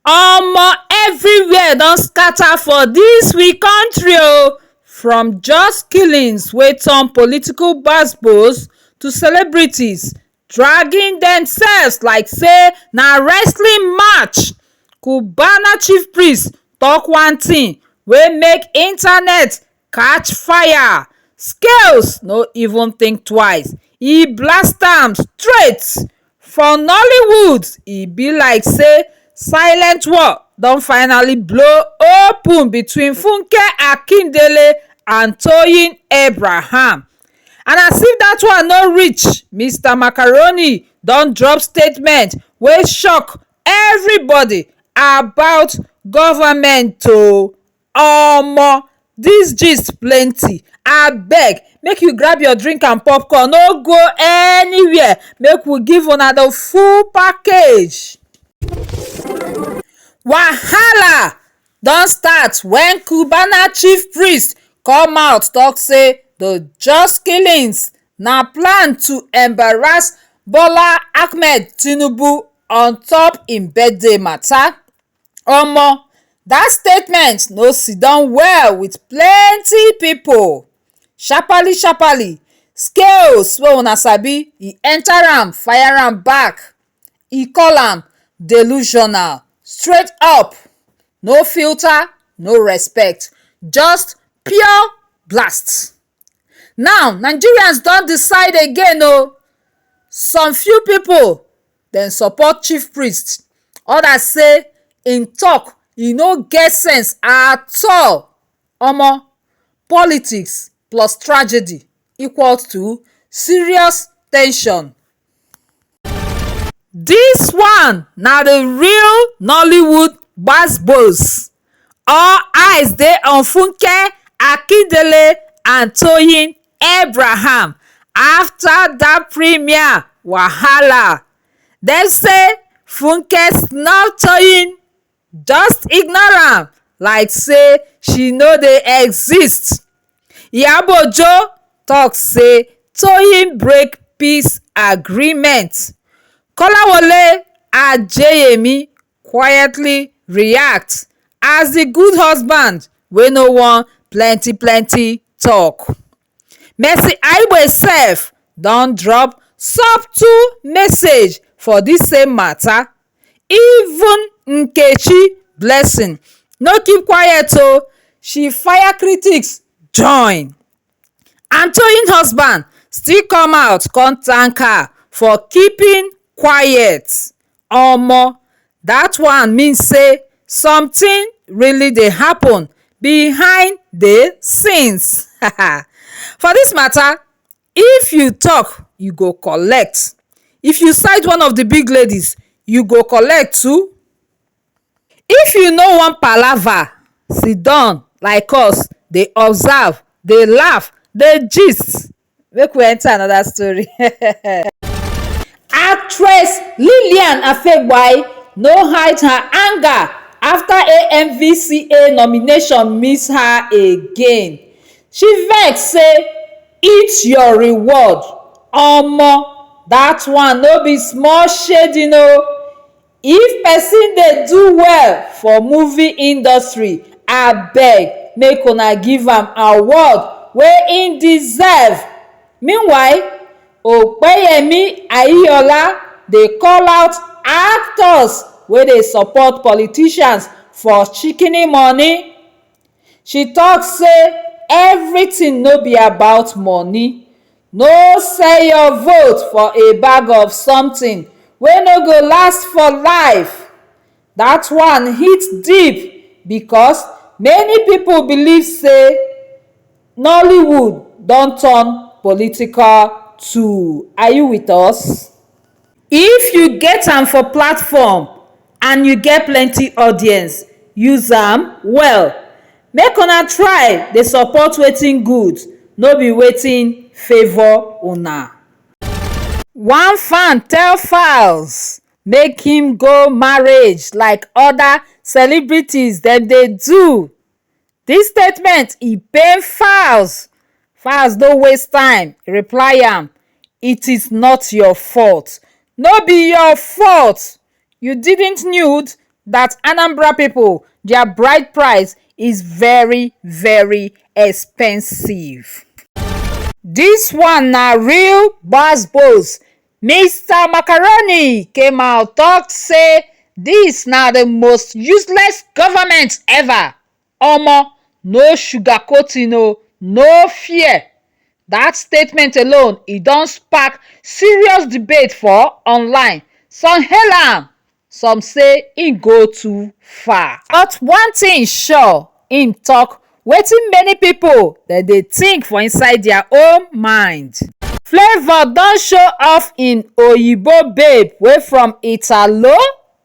Omo everywhere don scatter for dis we country o, from jus killings wey turn political gbas gbos to celebrities dragging dem selves like sey na wrestling match, cubana chief priest talk one thing wey make internet catch fire scales no even think twice e blast am straight for nollywood e be like say silent war don finally blow open between funke akindele and toyin abraham and as if dat one no reach mister macaroni don drop statement wey shock everybody about government o. Omo dis gist plenty abeg make you grab your drink and popcorn no go anywhere make we give una the full package. Wahala don start when Cubana chief priest come out talk say the just killings na plan to embarrass Bola Ahmed Tinubu on top im birthday matter. omo that statement no siddon well with plenty people sharpaly sharpaly scales wey una sabi e enter am fire am back e call am delusional straight up no filter no respect just pure blast now nigerians don decide again o some few people dem support chief priest others say him talk e no get sense at all omo politics plus tragedy equal to serious ten sion this one na the real nollywood gbas gbos. all eyes dey on funke akindele and toyin abraham afta dat premiere wahala dem say funke snub toyin just ignore am like say she no dey exist iyabojo tok say toyin break peace agreement kolawole adeyemi quietly react as the good husband wey no want plenty plenty talk. Mercy Aigbe sef don drop subtle message for this same matter even Nkechi Blessing no keep quiet oo she fire critics join and Toyin husband still come out come thank her for keeping quiet omo that one mean say something really dey happen behind the scenes for this matter if you talk you go collect if you side one of the big ladies you go collect too if you no wan palava siddon like us dey observe dey laugh dey gist make we enter another story. Actress Lillian Afegbwai no hide her anger after AMVCA nomination miss her again. She vex say eat your reward, omo that one no be small shading o. If person dey do well for movie industry, abeg make una give am award wey im deserve. Meanwhile, Opeyemi Aiyola dey call out actors wey dey support politicians for shikini money. She talk say everything no be about money, No sell your vote for a bag of something wey no go last for life. That one hit deep because many people believe say Nollywood don turn political tool. Are you with us? If you get am for platform and you get plenty audience, use am well. Make una try dey support wetin good, no be wetin favour una. One fan tell Falz make him go marriage like other celebrities dem dey do. dis statement e pain falz falz no waste time reply am it is not your fault no be your fault you didn't knew that Anambra people their bride price is very very expensive dis one na real gbas gbos Mister Macaroni came out talk say this na the most useless government ever, omo no sugarcoating o, no fear, that statement alone e don spark serious debate for online, some hail am some say e go too far. But one thing sure, im tok wetin many pipo dem dey think for inside dia own mind. Flavour don show off im oyibo babe wey from Italo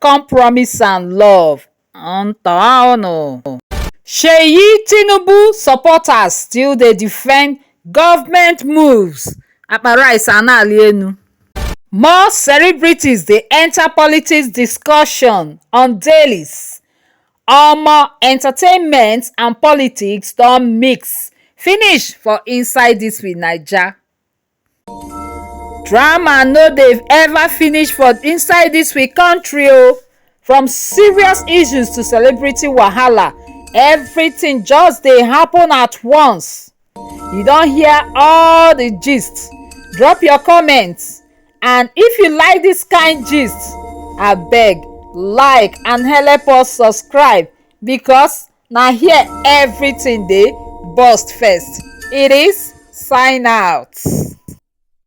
come promise am love. Seyi Tinubu supporters still dey defend Government moves, Akpara is a na-arị elu. More celebrities dey enter politics discussion on dailies, Omo entertainment and politics don mix finish for inside this we naija. Drama no dey ever finish for inside this we country o, from serious issues to celebrity wahala everything just dey happen at once. you don hear all the gist drop your comment and if you like this kind gist abeg like and help us subscribe because na here everything dey burst first it is sign out.